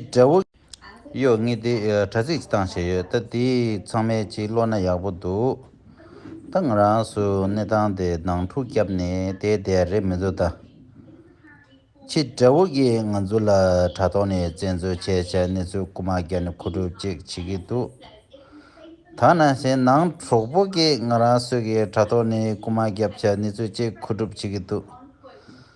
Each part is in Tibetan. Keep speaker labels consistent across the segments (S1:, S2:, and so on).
S1: འདྲ་བོ། གཡོ་ལྔས་དེ་དྲ་ཚིགས་སྟངས་བྱས་ཡོད་ད་དེ་ཚང་མའི་སྤྱི་བློ་ན་ཡག་པོ་འདུག་ད་ང་རང་སུ་གནས་སྟངས་དེ་ནང་འཁྲུག་བསྐྱབས་ནས་དེ་བསྡད་རེད་མི་བཟོ་ད། ཁྱི་འདྲ་བོ་ཀྱིས་ང་ཚོ་ལ་དྲ་ཐོག་ནས་བཙན་འཛུལ་བྱས་བྱས་གནས་ཚུལ་རྐུ་མ་རྒྱག་ནས་ཁུ་སྒྲུབ་ཅིག་བྱེད་ཀྱི་འདུག་ད་ན་གཞན་ནང་གྲོགས་པོ་ཀྱིས་ང་རང་སུ་གིས་དྲ་ཐོག་ནས་རྐུ་མ་བརྒྱབ་བྱས་གནས་ཚུལ་ཅིག་ཁུ་སྒྲུབ་བྱེད་ཀྱི་འདུག།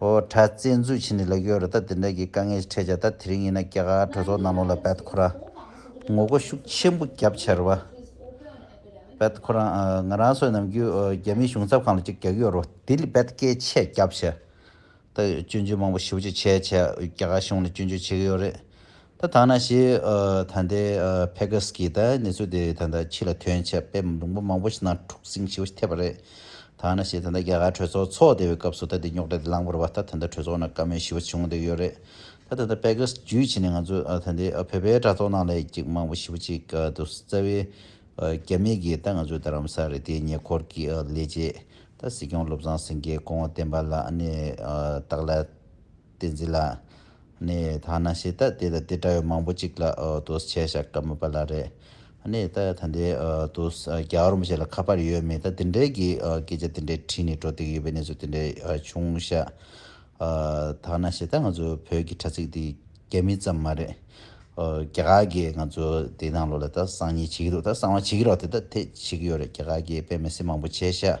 S1: ཨོ་གྲྭ་བཙན་འཛུལ་བྱས་ནས་ལེགས་ཡོད་རེད་ད་དེ་འདྲ་གི་དཀའ་ངལ་ཞིག་འཕྲད་ཆ་ད་དེ་རིང་ཡིན་ན་རྒྱ་གར་གྲོས་ཚོགས་ནང་ལོག་ལ་བད་ཁོ་རང་ངོ་རྒོལ་ཤུགས་ཆེན་པོ་རྒྱབ་ཆེར་བ་བད་ཁོ་རང་ང་རང་སོད་ནམ་རྒྱུན་རྒྱ་མིའི་གཞུང་ཚབ་ཁང་ལ་ཅིག་རྒྱག་གི་ཡོད་རོ་དེ་ལས་བད་སྐད་ཆས་རྒྱབ་ཆེར་ད་སྐྱོན་བརྗོད་མང་པོ་ཞིབ་བརྗོད་བྱས་ཆ་རྒྱ་གར་གཞུང་ལ་སྐྱོན་བརྗོད་བྱེད་གི་ཡོད་རེད་ད་ཐང་ན་ཞེས་ད་ལྟའི་ཕེ་གྷ་སི་ཀིས་ད་གནས་ཚུལ་དེ་ད་ལྟ་ཕྱི་ལ་ཐོན་ཆེད་དཔེ་མང་པོ་མང་པོ་ཞིག་ནང་འཁྲུག་ཟིང་ཞིག་ཐེབས་པ་རེད། ད་ང་ན་ཞེས་ད་ལྟ་རྒྱ་གར་གྲོས་ཚོགས་ཚོགས་བསྡད་པའི་སྐབས་སུ་ད་དེ་རྙོག་དྲ་དེ་ལངས་པར་བ་ད་ད་ལྟ་གྲོས་ཚོགས་ནང་བཀའ་མོལ་ཞི་བ་བྱུང་བསྡད་ཡོད་རེད། ད་ད་ལྟ་ཕེ་གྷ་སི་ཇུས་བྱས་ནས་ང་ཚོ་ད་ལྟའི་བོད་པའི་དྲ་ཐོག་ནང་ལས་ཀྱི་མང་པོ་ཞི་བ་ཅིག་ཏུ་རྩ་བའི་རྒྱ་མི་གིས་ད་ང་ཚོའི་རྡ་རམ་ས་རི་དེའི་ཉེ་འཁོར་གྱི་ལས་བྱེད་ད་སྲིད་སྐྱོང་བློ་བཟང་སེང་གེ་སྐོང་བ་བསྟན་པ་ལགས་ནས་བདག་ལ། བསྟན་འཛིན་ལགས། ནས་ད་ནང་ཤེས་ལྟ་དེ་ལ་དེ་འདྲ་ཡོད་མང་པོ་གཅིག་ལ་དུས་ཆད་བཞག་གྲ་མི་པ་ལ་རེད། ནས་ད་ད་འདའི་དུས་རྒྱ་བར་མི་ཤེས་ལ་ཁ་པར་ཡོད་མེད་ད་དེ་འདྲའི་གི་སྐད་ཆ་དེ་འདྲའི་དྲིས་ནས་འགྲོ་སྡིག་ཡོད་པའི་གནས་ཚུལ་དེ་འདྲའི་བྱུང་ཤག། ད་ནང་ཤེས་ལྟ་ང་ཚོ་བོད་གི་དྲ་ཚིགས་འདི་རྒྱ་མི་ཙམ་མ་རེད། རྒྱ་གར་གི་ང་ཚོ་འདི་ནང་ལོག་ལ་ད་གསང་ཉིན་བྱེད་ཀྱི་འདུག་ད་གསང་བ་བྱེད་ཀྱི་རོགས་དེ་ད་དེ་བྱེད་ཀྱི་ཡོད་རེད་རྒྱ་གར་གི་པད་མའི་སྲིན་མང་པོ་བྱས་ཤག།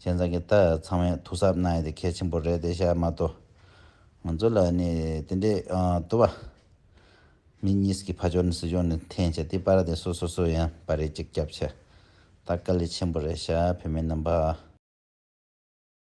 S1: ཁྱེད་ཚང་གི་ད་ཚང་མས་ཐུགས་གཟབ་གནང་ཡོད་དེ་གལ་ཆེན་པོ་རེད་དེ་ཤ་མ་ཏོ། ང་ཚོ་ལ་ནི་དེ་འདྲའི་དུ་བ་མི་གཉིས་ཀྱི་ཕ་ཇོ་ནི་སྲི་ཇོ་ནི་འཐེན་བྱ་དེ་པར་དེ་སོ་སོ་སོ་ཡང་པར་རེ་གཅིག་རྒྱབ་བྱ། ད་དཀའ་ལས་ཆེན་པོ་རེད་ཤ་བོད་མི་རྣམས་པ།